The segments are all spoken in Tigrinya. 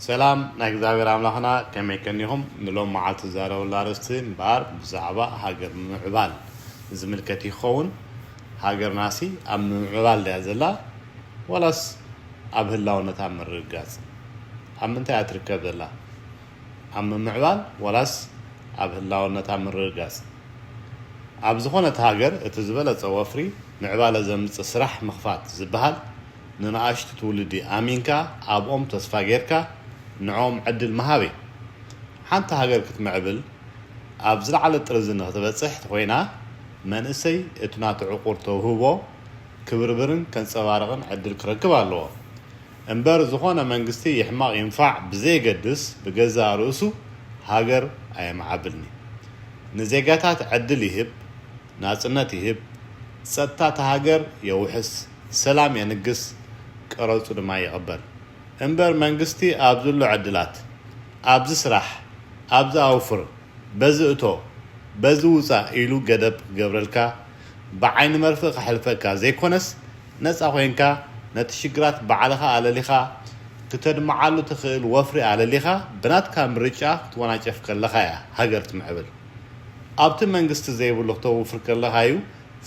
ሰላም ናይ እግዚኣብሔር ኣምላክና ከመይ ከኒኩም ንሎም መዓልቲ ዝዛረበሉ ኣርእስቲ እምበኣር ብዛዕባ ሃገር ምምዕባል ዝምልከት ይከውን ሃገርናሲ ኣብ ምምዕባል ድያ ዘላ ዋላስ ኣብ ህላውነታ ምርግጋጽ ኣብ ምንታይ እያ ትርከብ ዘላ ኣብ ምምዕባል ዋላስ ኣብ ህላውነታ ምርግጋጽ ኣብ ዝኮነት ሃገር እቲ ዝበለጸ ወፍሪ ምዕባለ ዘምጽእ ስራሕ ምክፋት ዝብሃል ንናኣሽቱ ትውልዲ ኣሚንካ ኣብኦም ተስፋ ጌርካ ንዕኦም ዕድል ምሃብ እዩ። ሓንቲ ሃገር ክትምዕብል ኣብ ዝለዓለ ጥርዚ ንክትበጽሕ ተኾይና መንእሰይ እቲ ናቱ ዕቑር ተውህቦ ክብርብርን ከንጸባርቕን ዕድል ክረክብ ኣለዎ እምበር ዝኾነ መንግስቲ ይሕመቕ ይንፋዕ ብዘየገድስ ብገዛእ ርእሱ ሃገር ኣየምዓብልን'ዩ። ንዜጋታት ዕድል ይህብ ናጽነት ይህብ ጸጥታ እታ ሃገር የውሕስ። ሰላም የንግስ ቀረጹ ድማ ይቅበል እምበር መንግስቲ ኣብዚ ኣሎ ዕድላት ኣብዚ ስራሕ ኣብዚ ኣውፍር በዚ እቶ በዚ ውጻእ ኢሉ ገደብ ክገብረልካ ብዓይኒ መርፍእ ከሕልፈካ ዘይኮነስ ነጻ ኮይንካ ነቲ ሽግራት ባዕልኻ ኣለሊኻ ክተድምዓሉ ትኽእል ወፍሪ ኣለሊኻ ብናትካ ምርጫ ክትወናጨፍ ከለኻ እያ ሃገር ትምዕብል ኣብቲ መንግስቲ ዘይብሉ ክተውፍር ከለኻ እዩ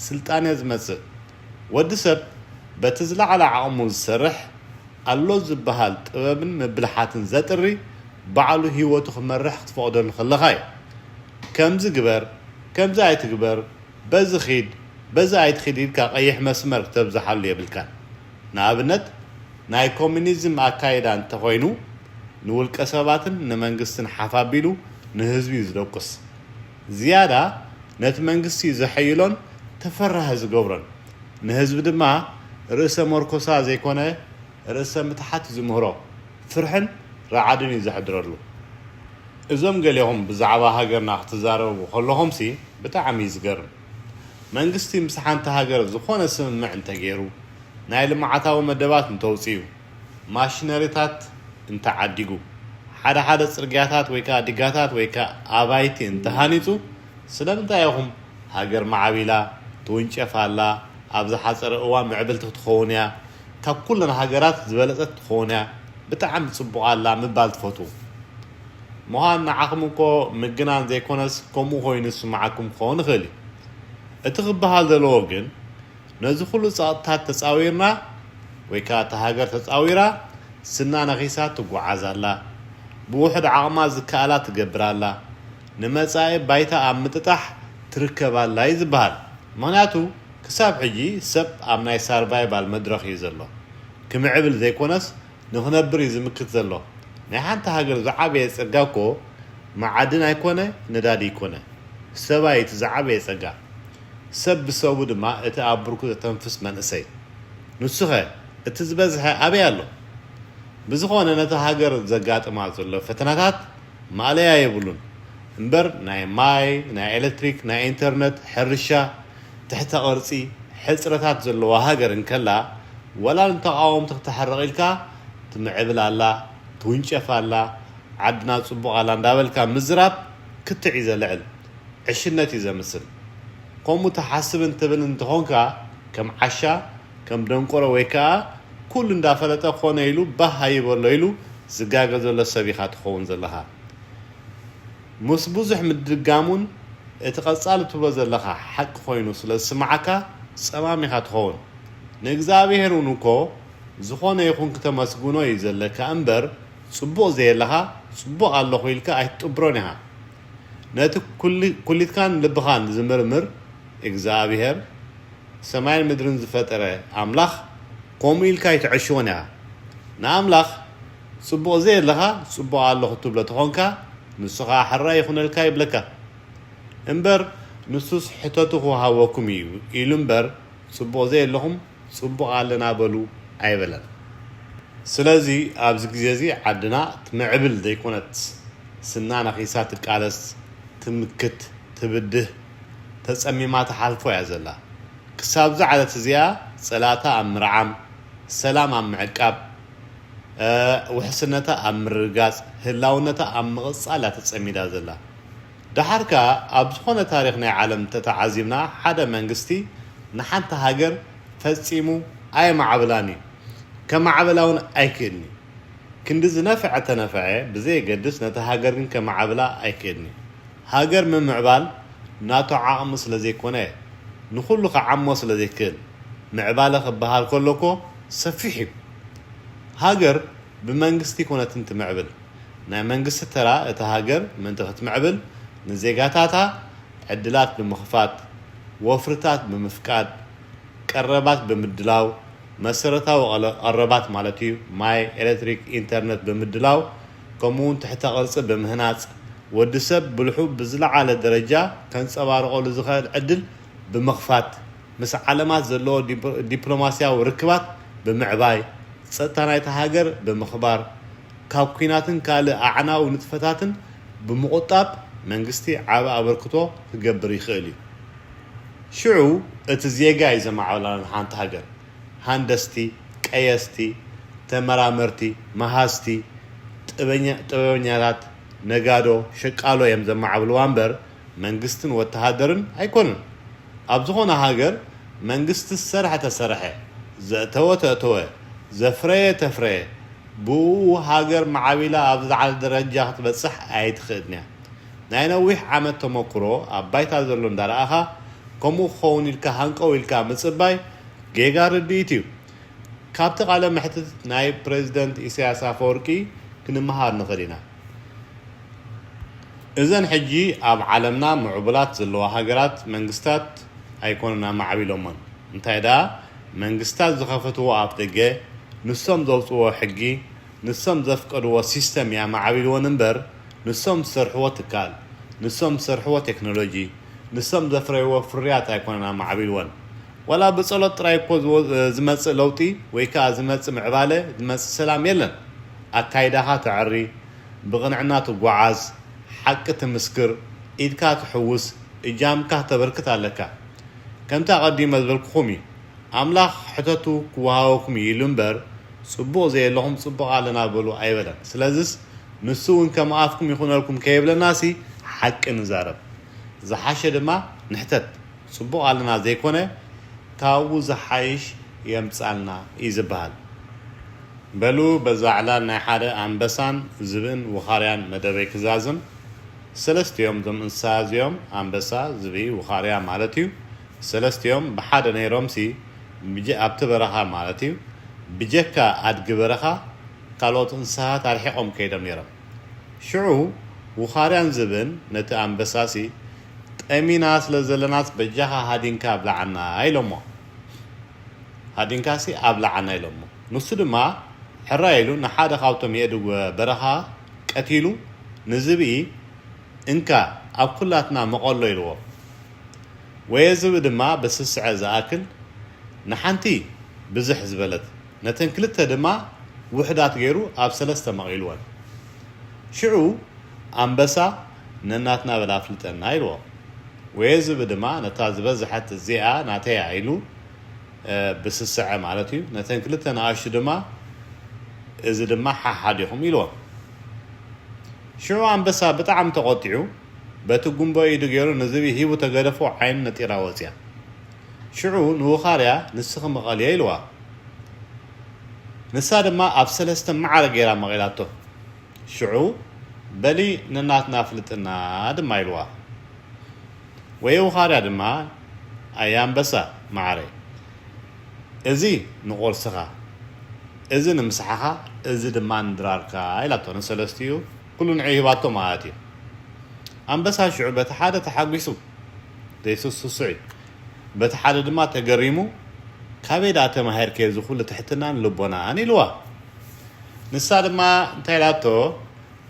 ስልጣኔ ዝመጽእ ወዲ ሰብ በቲ ዝለዓለ ዓቕሙ ዝሰርሕ፣ ኣሎ ዝበሃል ጥበብን ምብልሓትን ዘጥሪ፣ ባዕሉ ህይወቱ ክመርሕ ክትፈቕደሉ ከለኻ እዩ። ከምዚ ግበር፣ ከምዚ ኣይትግበር፣ በዚ ኺድ፣ በዚ ኣይትኺድ ኢልካ ቀይሕ መስመር ክተብዝሓሉ የብልካን። ንኣብነት ናይ ኮሚኒዝም ኣካይዳ እንተኾይኑ ንውልቀ ሰባትን ንመንግስትን ሓፍ ኣቢሉ ንህዝቢ'ዩ ዝደቁስ። ዝያዳ ነቲ መንግስቲ ዘሐይሎን ተፈራሂ ዝገብሮን፣ ንህዝቢ ድማ ርእሰ መርኮሳ ዘይኮነ ርእሰ ምትሓት ዝምህሮ ፍርሕን ራዕድን እዩ ዘሕድረሉ። እዞም ገሌኹም ብዛዕባ ሃገርና ክትዛረቡ ከለኹምሲ ብጣዕሚ እዩ ዝገርም። መንግስቲ ምስ ሓንቲ ሃገር ዝኾነ ስምምዕ እንተገይሩ፣ ናይ ልምዓታዊ መደባት እንተውጺኡ፣ ማሽነሪታት እንተዓዲጉ፣ ሓደ ሓደ ጽርግያታት ወይ ከኣ ዲጋታት ወይ ከኣ ኣባይቲ እንተሃኒጹ፣ ስለምንታይ ኢኹም ሃገር ማዕቢላ፣ ትውንጨፍ ኣላ፣ ኣብ ዝሓጸረ እዋን ምዕብልቲ ክትኸውን እያ፣ ካብ ኩለን ሃገራት ዝበለጸት ክትኸውን እያ፣ ብጣዕሚ ጽቡቕ ኣላ ምባል ትፈትዉ? ምዃን ንዓኹም እኮ ምግናን ዘይኮነስ ከምኡ ኮይኑ ዝስምዓኩም ክኸውን ይኽእል እዩ። እቲ ክበሃል ዘለዎ ግን ነዚ ኩሉ ጸቕጥታት ተጻዊርና ወይ ከኣ እታ ሃገር ተጻዊራ ስና ነኺሳ ትጉዓዝ ኣላ። ብውሑድ ዓቕማ ዝከኣላ ትገብር ኣላ። ንመጻኢ ባይታ ኣብ ምጥጣሕ ትርከብ ኣላ እዩ ዝበሃል። ምኽንያቱ ክሳብ ሕጂ ሰብ ኣብ ናይ ሳርቫይቫል መድረኽ እዩ ዘሎ። ክምዕብል ዘይኮነስ ንኽነብር እዩ ዝምክት ዘሎ። ናይ ሓንቲ ሃገር ዝዓበየ ጸጋ እኮ መዓድን ኣይኮነ ነዳዲ ኣይኮነ። ሰብ ኣዩ እቲ ዝዓበየ ጸጋ። ሰብ ብሰቡ ድማ እቲ ኣብ ብርኩ ዘተንፍስ መንእሰይ ንሱኸ እቲ ዝበዝሐ ኣበይ ኣሎ? ብዝኾነ ነታ ሃገር ዘጋጥማ ዘሎ ፈተናታት ማእለያ የብሉን እምበር ናይ ማይ ናይ ኤለትሪክ ናይ ኤንተርነት ሕርሻ ትሕተ ቅርጺ ሕጽረታት ዘለዋ ሃገር እንከላ ዋላ ንተቓወምቲ ክተሕርቕ ኢልካ ትምዕብል ኣላ ትውንጨፍ ኣላ ዓድና ጽቡቕ ኣላ እንዳበልካ ምዝራብ ክትዕ እዩ ዘልዕል ዕሽነት እዩ ዘምስል። ከምኡ ትሓስብን ትብልን እንተኾንካ ከም ዓሻ፣ ከም ደንቆሮ ወይ ከኣ ኩሉ እንዳፈለጠ ኮነ ኢሉ ባህ ኣይበሎ ኢሉ ዝጋገ ዘሎ ሰብ ኢኻ ትኸውን ዘለኻ። ምስ ብዙሕ ምድጋም'ውን እቲ ቀጻሊ ትብሎ ዘለኻ ሓቂ ኮይኑ ስለ ዝስምዓካ ጸማም ኢኻ ትኸውን። ንእግዚኣብሄር'ውን እኮ ዝኾነ ይኹን ክተመስግኖ እዩ ዘለካ እምበር ጽቡቕ ዘየለኻ ጽቡቕ ኣለኹ ኢልካ ኣይትጥብሮን ኢኻ። ነቲ ኩሊትካን ልብኻን ዝምርምር እግዝኣብሄር ሰማይን ምድርን ዝፈጠረ ኣምላኽ ከምኡ ኢልካ ኣይትዐሽዎን ኢኻ። ንኣምላኽ ጽቡቕ ዘየለኻ ጽቡቕ ኣለኹ ትብሎ ተኾንካ ንሱ ኸኣ ሕራይ ይኹነልካ ይብለካ። እምበር ንሱስ ሕተቱ ክወሃበኩም እዩ ኢሉ እምበር ጽቡቕ ዘየለኹም ጽቡቅ ኣለና በሉ ኣይበለን ስለዚ ኣብዚ ግዜ እዚ ዓድና ትምዕብል ዘይኮነት ስና ነኪሳ ትቃለስ ትምክት ትብድህ ተጸሚማ ትሓልፎ እያ ዘላ ክሳብዛ ዓለት እዚኣ ጸላእታ ኣብ ምርዓም ሰላም ኣብ ምዕቃብ ውሕስነታ ኣብ ምርግጋጽ ህላውነታ ኣብ ምቅጻል እያ ተጸሚዳ ዘላ ደሓር ከኣ ኣብ ዝኾነ ታሪኽ ናይ ዓለም ተተዓዚብና ሓደ መንግስቲ ንሓንቲ ሃገር ፈጺሙ ኣየማዕብላን እዩ ከማዕብላ ውን ኣይክእልን እዩ ክንዲ ዝነፈዐ ተነፈዐ ብዘየገድስ ነታ ሃገር ግን ከማዕብላ ኣይክእልን እዩ ሃገር ምምዕባል ናቱ ዓቕሚ ስለዘይኮነ ንኹሉ ክዓሞ ስለዘይክእል ምዕባለ ክበሃል ከሎ እኮ ሰፊሕ እዩ ሃገር ብመንግስቲ ኣይኮነትን ትምዕብል ናይ መንግስቲ ተራ እታ ሃገር ምእንቲ ክትምዕብል ንዜጋታታ ዕድላት ብምኽፋት፣ ወፍርታት ብምፍቃድ፣ ቀረባት ብምድላው፣ መሰረታዊ ቀረባት ማለት እዩ፣ ማይ፣ ኤለትሪክ፣ ኢንተርነት ብምድላው ከምኡ'ውን ትሕተ ቅርጺ ብምህናጽ ወዲ ሰብ ብልሑ ብዝለዓለ ደረጃ ከንጸባርቐሉ ዝኸእል ዕድል ብምኽፋት ምስ ዓለማት ዘለዎ ዲፕሎማሲያዊ ርክባት ብምዕባይ ጸጥታ ናይታ ሃገር ብምኽባር ካብ ኲናትን ካልእ ኣዕናዊ ንጥፈታትን ብምቑጣብ መንግስቲ ዓቢ ኣበርክቶ ክገብር ይኽእል እዩ። ሽዑ እቲ ዜጋ እዩ ዘማዕብላ ንሓንቲ ሃገር። ሃንደስቲ፣ ቀየስቲ፣ ተመራመርቲ፣ መሃዝቲ፣ ጥበበኛታት፣ ነጋዶ፣ ሸቃሎ እዮም ዘማዕብልዋ እምበር መንግስትን ወተሃደርን ኣይኮኑን። ኣብ ዝኾነ ሃገር መንግስቲ ዝሰርሐ ተሰርሐ፣ ዘእተወ ተእተወ፣ ዘፍረየ ተፍረየ ብኡኡ ሃገር ማዕቢላ ኣብ ዝለዓለ ደረጃ ክትበጽሕ ኣይትኽእልን'ያ። ናይ ነዊሕ ዓመት ተመኩሮ ኣብ ባይታ ዘሎ እንዳረኣኻ ከምኡ ክኸውን ኢልካ ሃንቀው ኢልካ ምጽባይ ጌጋ ርድኢት'ዩ። ካብቲ ቃለ መሕትት ናይ ፕረዚደንት ኢሳያስ ኣፈወርቂ ክንመሃር ንኽእል ኢና። እዘን ሕጂ ኣብ ዓለምና ምዑቡላት ዘለዋ ሃገራት መንግስታት ኣይኮኑን ኣማዕቢሎሞን እንታይ ደኣ መንግስታት ዝኸፈትዎ ኣፍደገ ንሶም ዘውጽእዎ ሕጊ ንሶም ዘፍቀድዎ ሲስተም እያ ኣማዕቢልወን እምበር ንሶም ዝሰርሕዎ ትካል ንሶም ዝሰርሕዎ ቴክኖሎጂ ንሶም ዘፍረይዎ ፍርያት ኣይኮነን ኣማዕቢልወን ዋላ ብጸሎት ጥራይ እኮ ዝመጽእ ለውጢ ወይ ከኣ ዝመጽእ ምዕባለ ዝመጽእ ሰላም የለን። ኣካይዳኻ ተዐሪ፣ ብቕንዕና ትጓዓዝ፣ ሓቂ ትምስክር፣ ኢድካ ትሕውስ፣ እጃምካ ተበርክት ኣለካ። ከምቲ ኣቐዲመ ዝበልኩኹም እዩ። ኣምላኽ ሕተቱ ክወሃበኩም እዩ ኢሉ እምበር ጽቡቕ ዘየለኹም ጽቡቕ ኣለና በሉ ኣይበለን። ስለዝስ ንሱ እውን ከም ኣፍኩም ይኹነልኩም ከይብለናሲ ሓቂ ንዛረብ። ዝሓሸ ድማ ንሕተት። ጽቡቕ ኣለና ዘይኮነ ካብኡ ዝሓይሽ የምጽኣልና እዩ ዝበሃል። በሉ በዛ ዕላል ናይ ሓደ ኣንበሳን ዝብእን ውኻርያን መደበይ ክዛዝም። ሰለስቲኦም እዞም እንስሳ እዚኦም፣ ኣንበሳ፣ ዝብኢ፣ ውኻርያ ማለት እዩ፣ ሰለስቲኦም ብሓደ ነይሮምሲ ብጀ ኣብቲ በረኻ ማለት እዩ ብጀካ ኣድጊ በረኻ ካልኦት እንስሳታት ኣርሒቖም ከይዶም ነይሮም። ሽዑ ውኻርያን ዝብእን ነቲ ኣንበሳሲ ጠሚና ስለ ዘለናስ በጃኻ ሃዲንካ ኣብልዓና ኢሎሞ። ሃዲንካሲ ኣብልዓና ኢሎሞ ንሱ ድማ ሕራይ ኢሉ ንሓደ ካብቶም የእዱግ በረኻ ቀቲሉ ንዝብኢ እንካ ኣብ ኩላትና መቐሎ ኢልዎ ወየ ዝብኢ ድማ ብስስዐ ዝኣክል ንሓንቲ ብዝሕ ዝበለት ነተን ክልተ ድማ ውሕዳት ገይሩ ኣብ ሰለስተ መቒልወን ሽዑ ኣንበሳ ነናትና በል ኣፍልጠና ኢልዎ ወየ ዝብኢ ድማ ነታ ዝበዘሐት እዚኣ ናተያ ኢሉ ብስስዐ ማለት እዩ። ነተን ክልተ ንኣሽቱ ድማ እዚ ድማ ሓሓዲኹም ኢልዎም። ሽዑ ኣንበሳ ብጣዕሚ ተቖጢዑ በቲ ጉምቦ ኢዱ ገይሩ ንዝብኢ ሂቡ ተገደፎ ዓይኑ ነጢራ ወጽያ። ሽዑ ንውኻርያ ንስኺ ምቐልዮ ኢልዋ። ንሳ ድማ ኣብ ሰለስተ ማዕረ ገይራ መቒላቶ። ሽዑ በሊ ነናትና ኣፍልጥና ድማ ኢልዋ። ወየውኻዳ ድማ ኣየ ኣንበሳ መዓረይ እዚ ንቁርስኻ እዚ ንምስሓኻ እዚ ድማ ንድራርካ ኢላቶ ንሰለስቲኡ ኩሉ ንዕኡ ሂባቶ ማለት እዩ ኣንበሳ ሽዑ በቲ ሓደ ተሓጒሱ ዘይስሱስዕ እዩ በቲ ሓደ ድማ ተገሪሙ ካበይ ደኣ ተማሂርኪ እዚ ኩሉ ትሕትናን ልቦናን ኢልዋ ንሳ ድማ እንታይ ኢላቶ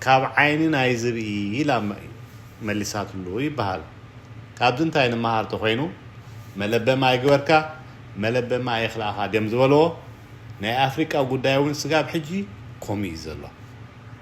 ካብ ዓይኒ ናይ ዝብኢ ኢላ መሊሳትሉ ይበሃል። ካብዚ እንታይ ንመሃር ተኾይኑ መለበሚ ኣይግበርካ መለበሚ ኣይኽልኣኻ ድዮም ዝበልዎ። ናይ ኣፍሪቃ ጉዳይ'ውን ስጋብ ሕጂ ኮምኡ እዩ ዘሎ።